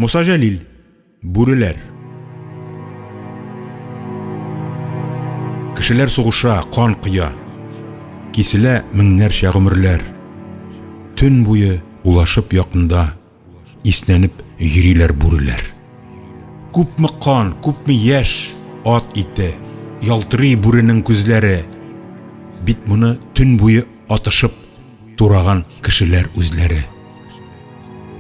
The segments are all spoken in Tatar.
Муса Җәлил. Бүреләр. Кешеләр сугыша, кан коя. Киселә меңнәрчә гомерләр. Төн буе улашып якында, иснәнеп йөриләр бүреләр. Күпме кан, күпме яшь, ат ите, ялтырый бүренең күзләре. Бит моны төн буе атышып, Тураган кешеләр үзләре.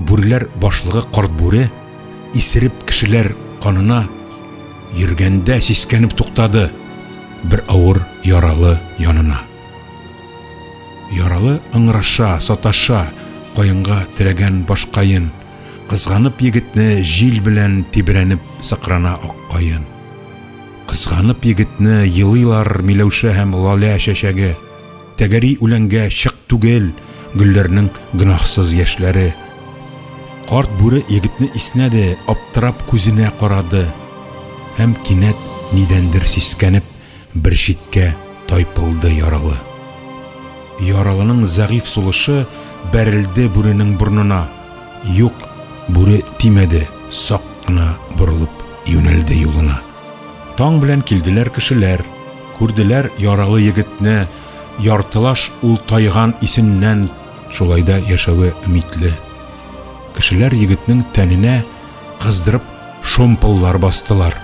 Бүреләр башлыгы Карт Бүре, исереп кешеләр канына йөргәндә сискәнеп туктады, бер авыр яралы янына. Яралы ыңгыраша, саташа, каенга терәгән башкаен, кызганып егетне җил белән тибрәнеп сыкрана аккаен. Кызганып егетне елыйлар Миләүшә һәм Лалә чәчәге. Тәгәри үләнгә чык түгел гөлләрнең гөнаһсыз яшьләре. Карт бүре егетне иснәде, аптырап күзенә карады һәм кинәт нидәндер сискәнеп бер читкә тайпылды яралы. Яралының зәгыйф сулышы бәрелде бүренең борнына. Юк, бүре тимәде, сак кына борылып юнәлде юлына. Таң белән килделәр кешеләр, күрделәр яралы егетне, яртылаш ул тайган исеннән. Шулай да яшәве өмитле. Кешеләр егетнең тәненә кыздырып шомпыллар бастылар.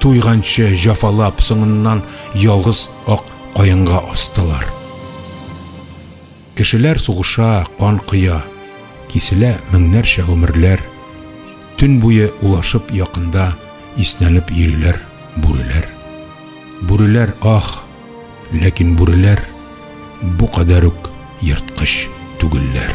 Туйганчы җафалап, соңыннан ялгыз ак каенга астылар. Кешеләр сугыша, кан коя, Киселә меңнәрчә гомерләр. Төн буе улашып якында Иснәнеп йөриләр бүреләр. Бүреләр, ах! Ләкин бүреләр Бу кадәр үк ерткыч түгелләр.